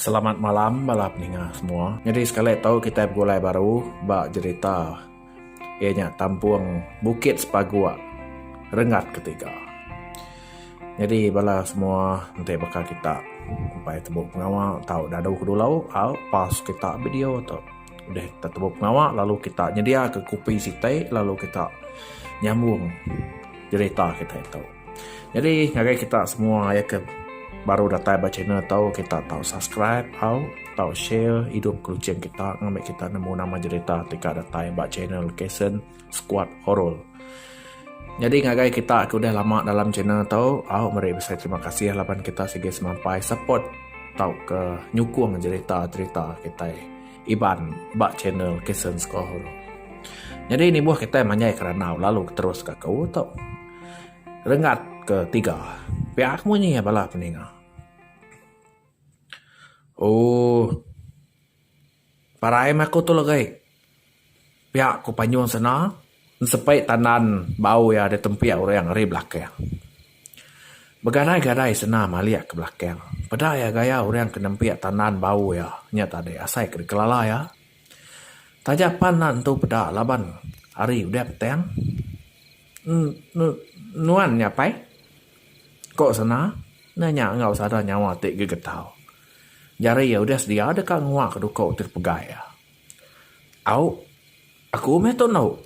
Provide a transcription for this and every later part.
Selamat malam bala peninga semua. Nyadi sekali tu kitai begulai baru ba jerita iya nya Tampung Bukit Sepaguk Rengat Ketiga. Nyadi bala semua enti baka kita upai tembu pengawa tau dadu ke dulu au pause kita video tu. Udah kita tembu pengawa lalu kita nyedia ke kopi siti lalu kita nyambung jerita kitai tu. Nyadi ngagai kita semua aye ke baru datai ba channel tu kita tau subscribe au tau share idup kuching kita ngambi kita nemu nama jerita ti ka datai ba channel KSen Squad Horror. Nyadi ngagai kita ke udah lama dalam channel tu au meri bisi terima kasih laban kita sigi semampai support tau ke nyukung jerita-jerita kitai. Iban ba channel Kesen Score. Nyadi nibuh kitai manjai keranau lalu terus ka ke utup. Renggat ke tiga. Pia ke munyi bala peninga. Ooh. Parai meh aku tu legai. Pia ku Panyung sena nsepit tandan bau iya ditempik orang ari belakang. Begadai-gadai sena malik ke belakang. Peda iya gaya orang ke nempik tandan bau iya nya tadi asai ke dikelala iya. Taja pan enda nentu peda laban hari udah petang. Enu nuan nya apai? ku sena nanya enggau sada nyawa ti gegetau. Jari iya udah sedia deka nguak duku ti dipegai iya. Au, aku meh tu endo,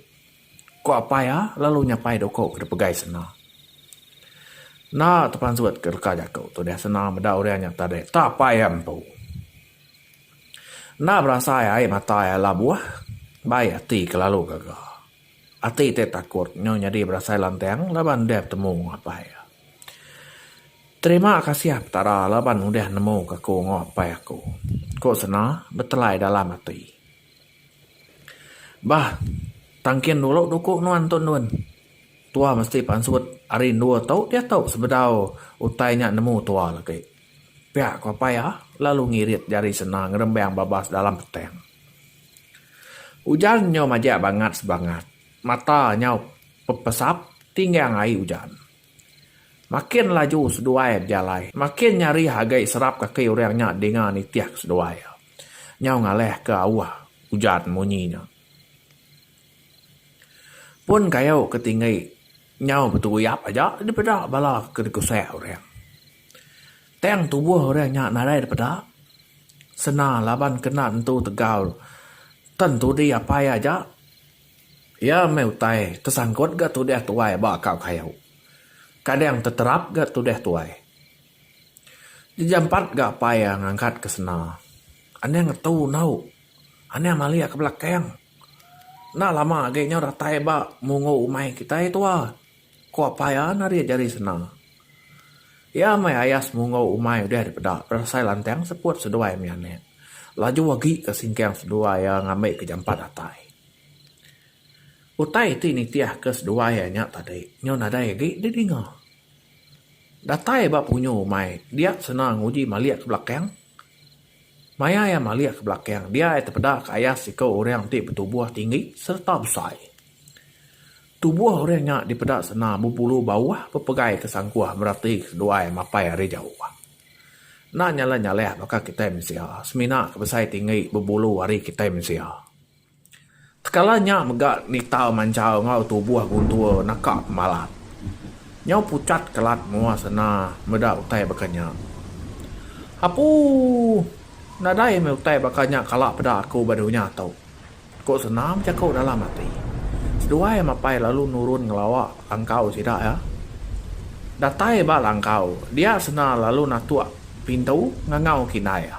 ku apai iya lalu nyapai dau aku dep pegai sanda. Enda tu pansut ke reka jaku tu deh sanda meda urang nya tadi ta apai iya empu. Enda berasai ai mata iya labuh, bai ati ke lalu gaga. Ati ti takut nyau nyadi berasai lantang laban deh betemu enggau apai. Terima kasih Petara laban udah nemuka aku enggau apai aku, ku Sena betelai dalam ati. Bah, tang kin dulu duku nuan tu endun. Tua mesti pansut ari endur tu diatu sebedau utai nya nemu tua lagi. Pia ku apai iya lalu ngirit jari sena ngerembang babas dalam petang. Ujan nyau majak bangat sebangat. Mata nyau pepesap tinggang ai ujan. Makin laju seduai bejalai. Makin nyarih agi serap kaki orang nya dinga nitih ke seduai iya. Nyau ngalahka auh ujan munyi nya. Pun kayu ke tinggi nyau betuyap aja dipeda bala ke dikusak orang. Tang tubuh orang nya nadai dipeda sena laban kena nentu tegau tan tudi apai aja iya meh utai tesangkut ga tudah tuai ba kau kayu. Kadang teterap ga tudah tuai. Jejampat ga apai iya ngangkat ke sena. Anang ngetu enggau. Anang malik ke belakang. Enda lama agi nyau datai ba mungu umai kitai tuwa, ku apai iya nari jari sena. Iya meh ayas mungu umai udah dipeda berasai lantang seput seduai mih anak. Laju agi ke singkang seduai iya ngambi ke jampat datai. Utai ti nitih ke seduai iya nya tadi nyau nadai agi didinga. Datai ba punyu umai dia sena nguji malik ke belakang. Maya iya malik ke belakang dia iya tepeda ke ayah seiku orang ti betubuh tinggi sereta besai. Tubuh orang nya dipeda sena bebulu bauh bepegai ke sangkuh merati ke seduai mapai ari jauh. Enda nyalah-nyalah baka kitai mensia semina ke besai tinggi bebulu ari kitai mensia. Tekala nya mega nita manchal enggau tubuh Guntur naka pemalat. Nyau puchat kelat menua sena meda utai baka nya. Apuuh! Nadai meh utai baka nya kala peda aku ba dunya tu, ku sena bejaku dalam ati. Seduai mapai lalu nurun ngelawa langkau sida iya. Datai ba langkau, dia sena lalu natuk pintu ngangau ke indai iya.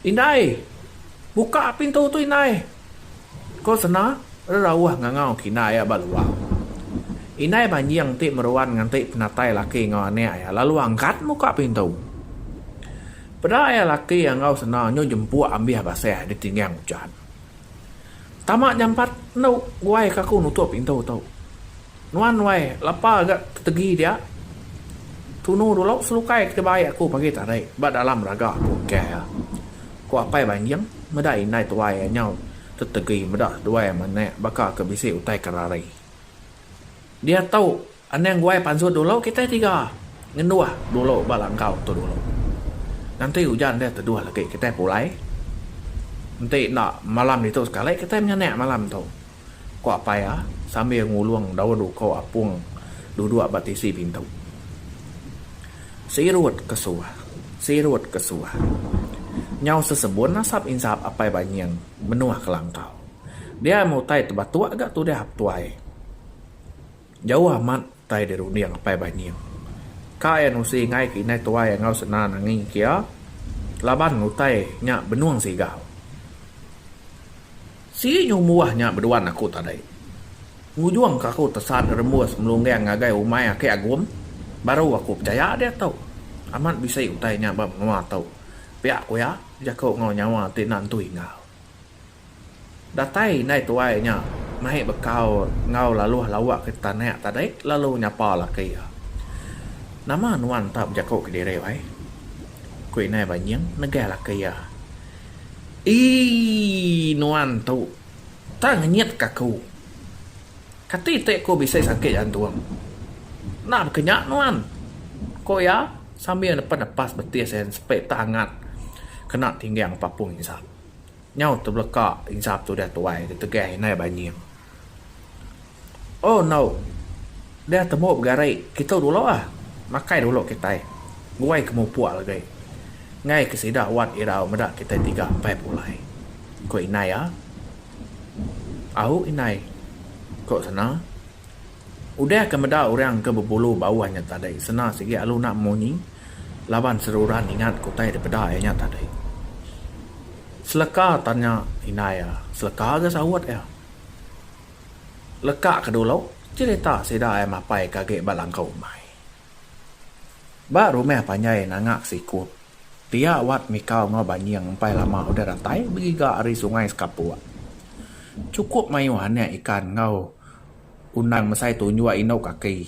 Indai! Buka pintu tu indai! ko Sena rerauh ngangau kina iya ba luar. Indai Banjing ti meruan nganti penatai laki enggau anak iya lalu angkat muka pintu. Peda iya laki enggau Sena nyu jempuk ambih basah ditinggang ujan. Tama jampat enu guai ke aku nutup pintu tu. Nuan wai lapa ga tegi dia. Tunu dulu selukai ke bai aku pagi tadi ba dalam raga aku engkai iya. Ku Apai Banjing meda indai tuai iya nyau tetegi meda duai manak baka ke bisi utai ke rari. Dia tu anang guai pansut dulu kitai tiga ngenduh dulu ba langkau tu dulu. Nanti ujan dia teduh lagi kitai pulai. Enti enda malam ditu sekali kitai menyanak malam tu. Kuak Paya sambil ngulung daun uko apung duduk ba tisi pintu. Sirut ke suah, sirut ke suah. Nyau sesebun asap insap Apai Banying menuh kelangkau. Dia meh utai tebatuk ga tudah Aptuai. Jauh amat utai dirunding apai Banying. Ka iya nusi enggai ke indai tuai enggau sena nangi ke iya laban utai nya benung sigal. Sigi nyumbuh nya beduan aku tadai. Ngujung ke aku tesan rembus melunggang ngagai umai Aki Agum baru aku pechaya diatu amat bisi utai nya ba menua tu, pia ku iya, jaku enggau nyawa ti enda nentu ingau. Datai indai tuai nya mai bekau enggau laluh lawa ke tanak tadi lalu nyapa laki iya. Nama nuan enta bejaku ke diri wai? ku indai Banying negah laki iya. Eii nuan tu tang ngenyitka aku. Kati ti aku bisi sakit jantung. Enda baka nya nuan, ku iya sambil nepen nepas betis iya sepi tang angat kena tinggang papung insap. Nyau tebeleka insap tu deh tuai ditegang inai banying. Oh no. Deh temu begari kitu dulu ah. Makai dulu kitai. Guai ke mupuk lagi. Enggai ke sida wat irau meda kitai tiga empai pulai. Ku inai ah. Au inai. Ku sena. Udah ke meda orang ke bebulu bauh nya tadi sena sigi alu enda munyi laban seruran ingat ke utai dipeda iya nya tadi. Seleka tanya indai iya, seleka ga saut iya. Leka ke dulu cherita sida iya mapai ke agi ba langkau umai. Ba rumah panjai nanga sikup pia wat mikau enggau banying empai lama udah datai begiga ari sungai sekapuk. Chukup mayuh anak ikan enggau. Undang mesai tu nyua indu kaki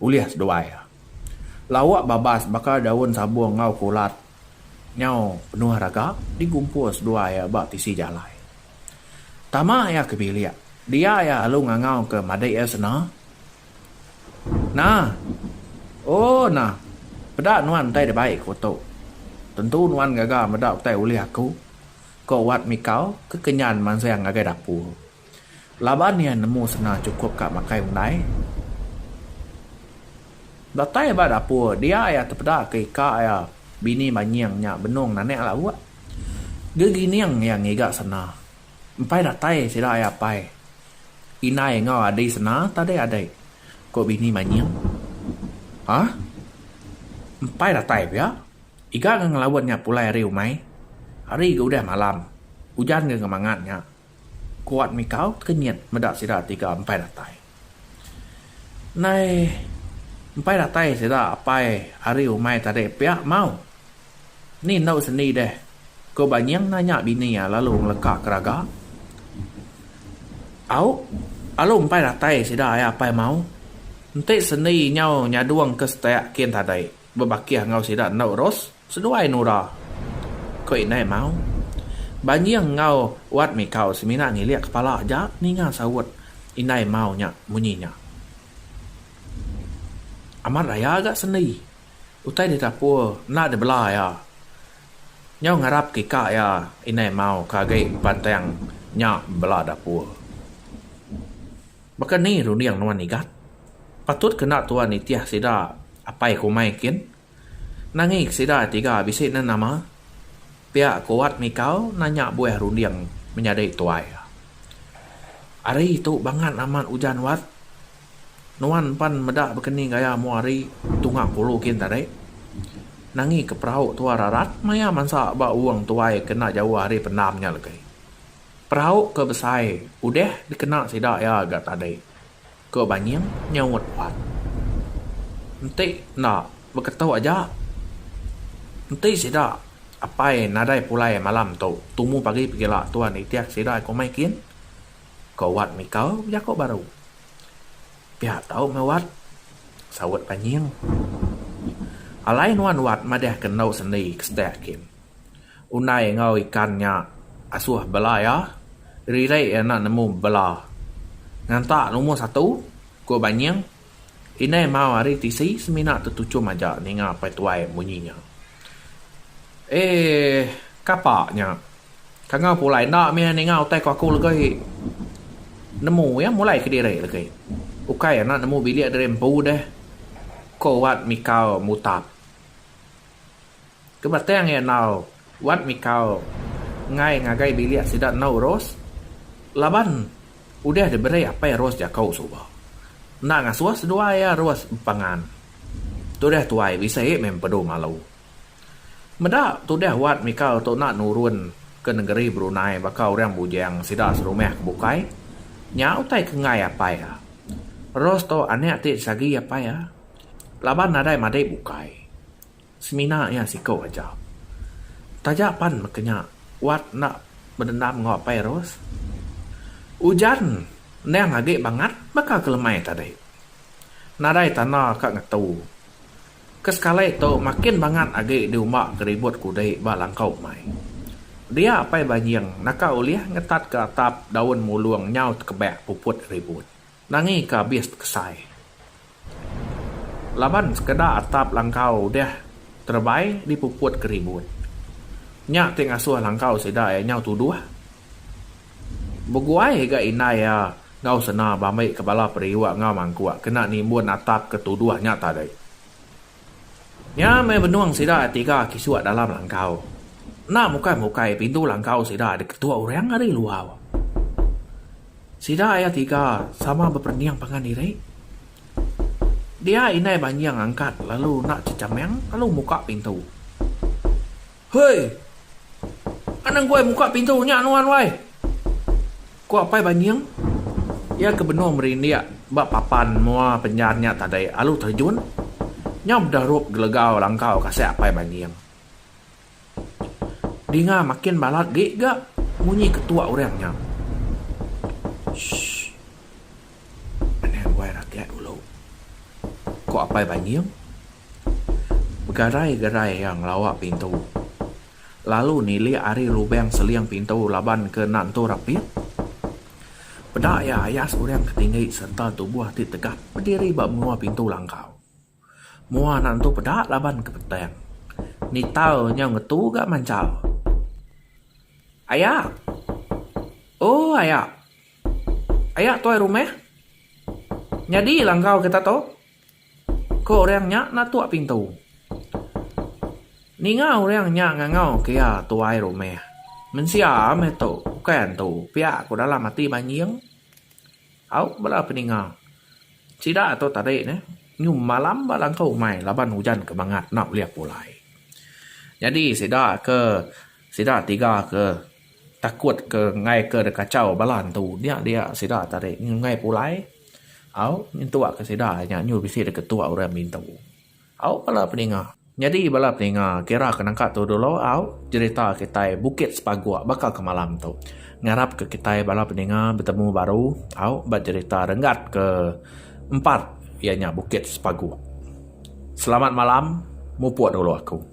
ulih seduai. Lauk babas baka daun sabung enggau kulat nyau penuh raga digumpul seduai ba tisi jalai. Tama iya ke bilik, dia iya alu ngangau ke madik iya sena, Nah! Oh nah! Peda nuan utai da baik ku tu. Tentu nuan gaga meda utai ulih aku, ko Wat Mikau ke kenyan mansang ngagai dapur. Laban iya nemu senang chukup ka makai undai. Datai ba dapur dia iya tepeda ke ika iya bini banying nya benung nanek lauk. Gegining iya ngiga sena. Empai datai sida iya apai, indai enggau adi sena tadi adi, ku bini banying. Hah? Empai datai pia? Iga enggau ngelaut nya pulai ari umai. Hari ga udah malam. Ujan ga ngemangat nya. Kuat mikau kenyit meda sida tiga empai datai. Ndai empai datai sida apai ari umai tadi pia mau. Ni endu sendi deh? Ku Ba Nying nanya bini iya lalu ngeleka keraga. Au, alu empai datai sida ai apai mau. Enti sendi nyau nyadung ke setek kin tadi bebakih enggau sida endu Ros. Seduai Nura, ko indai Mau. Banjing enggau Wat Mikau semina ngilik kepala aja ninga saut indai Mau nya munyi nya. Amat raya ga sendi, utai ditapur enda dibela iya. Nyau ngarap ke ika iya indai Mau ke agi pantang nya bela dapur. Baka ni runding nuan Igat? Patut ke enda tuan nitih sida apai kumai kin? Nangik sida tiga bisi ne nama? pia ku Wat Mikau nanya buah runding menyadi tuai. Ari tu bangat amat ujan Wat. Nuan pan meda bekeni gaya mua ari tunga kulu kin tadi. Nangi ke perau tua rarat maya mansa ba uung tuai ke enda jauh ari pendam nya legi. Perau ke besai udah dikena sida iya ga tadi. Ko Banying nyaut Wan. Enti enda beketu aja. Enti sida apai nadai pulai malam tu tumu pagi pegila tuan nitih sida komai kin? ko Wat Mika bejako baru. Pia tau meh Wat, saut Banying. Alai nuan Wat madahka endu sendi ke setak kin. Unai enggau ikan nya asuh bela iya. Riri iya enda nemu bela. Nganta numur satu, ku Banying. Indai mau ari tisi semina tetuchum aja ninga Pai Tuai munyi nya. Eeh, kapa nya? Kangau pulai enda mih ninga utai ku aku legai nemu iya mulai kediri legi. Ukai enda nemu bilik diri empu deh, ku Wat mikau mutap. Ke batang iya enggau Wan Mikau enggai ngagai bilik sida enggau Ros laban udah diberi apai Ros jaku suba. Enda ngasuh seduai iya Ros bepangan. Tudah tuai bisi meh empedu malu. Meda tudah Wan Mikau tu enda nurun ke nengeri Brunei baka orang bujang sida serumah ke bukai, nya utai ke enggai apai iya. Ros tu anak ti disagi apai iya laban nadai madik bukai. Semina iya siku aja. Taja pan meka nya Wat enda bedendam enggau Apai Ros. Ujan endang agi bangat baka ke lemai tadi. Nadai tanda ka ngetu. Ke sekali tu makin bangat agi diumba ke ribut kudi ba langkau umai. Dia Apai Banjing naka ulih ngetatka atap daun mulung nyau tekebak puput ribut. Nangi ke abis tekesai. Laban sekeda atap langkau udah terebai dipuput ke ribut. Nya ti ngasuh langkau sida iya nyau tuduh. Beguai ga indai iya enggau sena bambi ke bala periuk enggau mangkuk kena nimbun atap ke tuduh nya tadi. Nya meh benung sida tiga kisuk dalam langkau. Enda mukai-mukai pintu langkau sida diketuk orang ari luar. Sida iya tiga sama beperening pangan diri. Dia indai banjing angkat lalu enda chechameng lalu muka pintu. Hoi! Anang guai muka pintu nya nuan wai! Ku Apai Banying. Iya ke benung merindik ba papan mua penyan nya tadi alu terjun nyau meda rup gelegau langkau kasik Apai Banying. Dinga makin balat agi ga munyi ketuk orang nya. Shh. Pengaduai rakyat dulu, ku Apai Banjing. Begarai-gerai iya ngelawa pintu lalu nilik ari lubang seling pintu laban ke enda nentu rapit. Peda iya ayas orang ke tinggi sereta tubuh ti tegap bediri ba menua pintu langkau. Mua anak entu peda laban ke petang. Nital nyau ngetu ga manchal. Aya! Ooh aya! Aya tuai rumah? Nyadi la enggau kita tu? Ko orang nya natuk pintu. Ninga orang nya ngangau ke iya tuai rumah. Mensia meh tu, bukai entu, pia ko dalam ati banjing. Au bala peninga. Sida tu tadi neh nyu malam ba langkau umai laban ujan ke mangat enda ulih pulai. Nyadi sida ke sida tiga ke takut ke enggai ke kachau bala entu nya dia sida tadi nyu enggai pulai. Au nyentukka sida nya nyu bisi deka tua orang mintu. Au bala peninga. Nyadi bala peninga kira ke nangka tu dulu au jerita kitai Bukit Sepaguk baka ke malam tu. Ngarap ke kitai bala peninga betemu baru au ba jerita renggat ke empat iya nya Bukit Sepaguk. Selamat malam mupuk dulu aku.